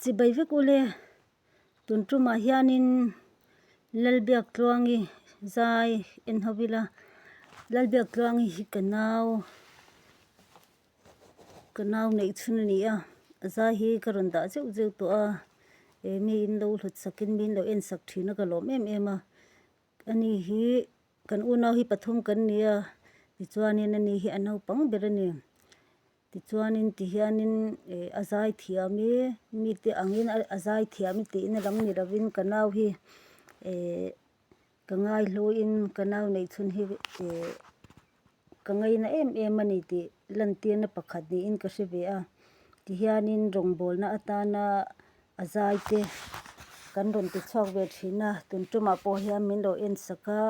Chibai vek u le. Tun tumah hianin Lal Biaktluangi zai en ho ila. Lal Biaktluangi hi ka nau, ka nau neih chhun a ni a. A zai hi ka rawn dah zeuh zeuh tawh a. Eng nge in lo hlutsakin min lo en sak thin a ka lawm em em a. Ani hi kan unau hi pathum kan nia tichuanin ani hi a naupang ber a ni. Tichuanin ti hianin eh a zai thiam i mite angin a zai thiam i tih na dang ni lovin ka nau hi eh ka ngaihluain ka nau nei chhun hi eh ka ngei na em em a ni tih lantirna pakhat niin ka hre ve a. Ti hianin rawngbawlna atana a zai te kan rawn ti chhuak ve thin a, tun ṭawmah pawh hian min lo en sak a,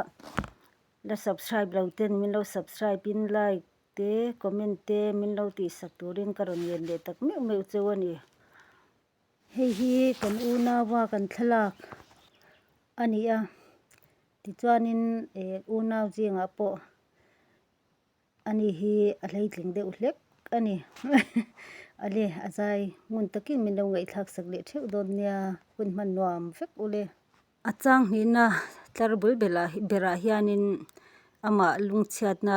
la subscribe lo ten min lo subscribe in like -- te comment te min lo tihsak turin ka rawn len leh tak meuh meuh cheu a ni. Hei hi kan unau-a kan thlalak a ni a, tichuanin eh unau zingah pawh a ni hi a hleitling deuh hlek a ni. Ale a zai ngun takin min lo ngaihthlak sak leh theuh dawn nia, hun hman nuam vek ule. A chang hnihna tlar bul berah hianin amah lungchhiatna